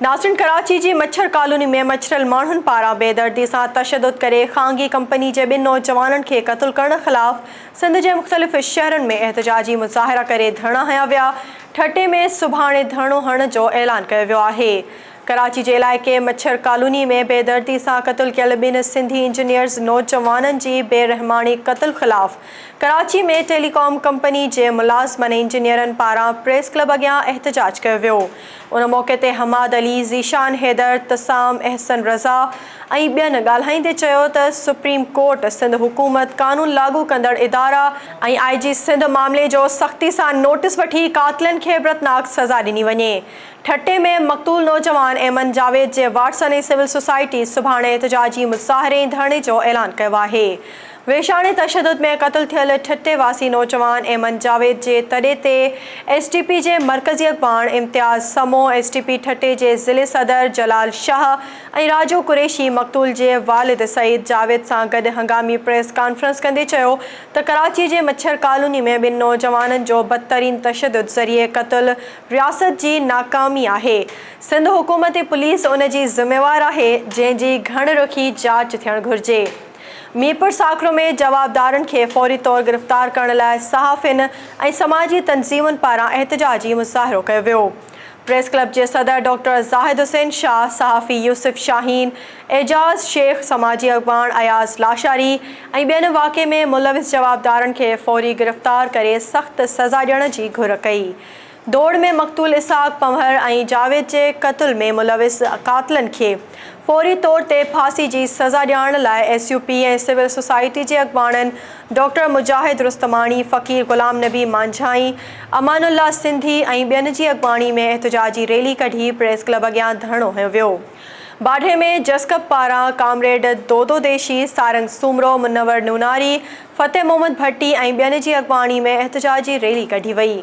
ناظرين ڪراچي جي مڇر ڪالوني ۾ مڇريل ماڻهن پاران بي دردي سان تشدد ڪري خانگي ڪمپني جي ٻن نوجوانن کي قتل ڪرڻ خلاف سنڌ جي مختلف شهرن ۾ احتجاجي مظاهرا ڪري ڌرڻا هنيا ويا ٺٽي ۾ سڀاڻي ڌرڻو هڻڻ جو اعلان ڪيو ويو آهي ڪراچي جي علائقي مڇر ڪالوني ۾ بي دردي سان قتل ڪيل ٻن سنڌي انجنيئرز نوجوانن جي بي رحماڻي قتل خلاف ڪراچي ۾ ٽيلي ڪام ڪمپني جي ملازمن ۽ انجنيئرن پاران پريس ڪلب اڳيان احتجاج ڪيو ويو. ان موقعي تي حماد علي، ذيشان حيدر، تسام، احسن رضا ۽ ٻين ڳالهائيندي چيو ته سپريم ڪورٽ سنڌ حڪومت، قانون لاڳو ڪندڙ ادارا، ۽ آء جي سنڌ معاملي جو سختي سان نوٽيس وٺي قاتلن کي عبرتناڪ سزا ڏني وڃي. ٺٽي ۾ مقتول نوجوان ايمن جاويد جي وارثن ۽ سول سوسائٽي سڀاڻي احتجاجي مظاهري ۽ ڌرڻي جو اعلان ڪيو آهي. ويشاڻي تشدد ۾ قتل ٿيل ٺٽي واسي نوجوان ايمن جاويد جي تڏي تي ايس ٽي پي جي مرڪزي اڳواڻ Imtiaz Samo, S T P Thatta جي ضلعي صدر جلال شاهه ۽ راجو قريشي مقتول جي والد سعيد جاويد سان گڏ هنگامي پريس ڪانفرنس ڪندي چيو ته ڪراچي جي مڇر ڪالوني ۾ ٻن نوجوانن جو بدترين تشدد ذريعي قتل رياست جي ناڪامي آهي، سنڌ حڪومت ۽ پوليس ان جي ذميوار آهي جنهن جي گهڻ رخي جاچ ٿيڻ گهرجي. ميرپور ساڪرو ۾ جوابدارن کي فوري طور گرفتار ڪرڻ لاء صحافين ۽ سماجي تنظيمن پاران احتجاجي مظاهرو ڪيو ويو. پريس ڪلب جي صدر ڊاڪٽر زاهد حسين شاهه، صحافي يوسف شاهين، اعجاز شيخ، سماجي اڳواڻ اياز لاشاري ۽ ٻين واقعي ۾ ملوث جوابدارن کي فوري گرفتار ڪري سخت سزا ڏيڻ جي گهر ڪئي. ڊوڙ ۾ مقتول اسحاق پنهور ۽ جاويد جي قتل ۾ ملوث قاتلن کي فوري طور تي ڦاسي جي سزا ڏيارڻ لاء S U P ۽ civil society جي اڳواڻن ڊاڪٽر مجاهد رستماڻي، فقير غلام نبي مانجهائي، امان الله سنڌي ۽ ٻين جي اڳواڻي ۾ احتجاجي ريلي ڪڍي پريس ڪلب اڳيان ڌرڻو هنيو ويو. باڊهي ۾ جسقپ پاران ڪامريڊ دودو ديشي، سارنگ سومرو، منور نوناري، فتح محمد ڀٽي ۽ ٻين جي اڳواڻي ۾ احتجاجي ريلي ڪڍي وئي.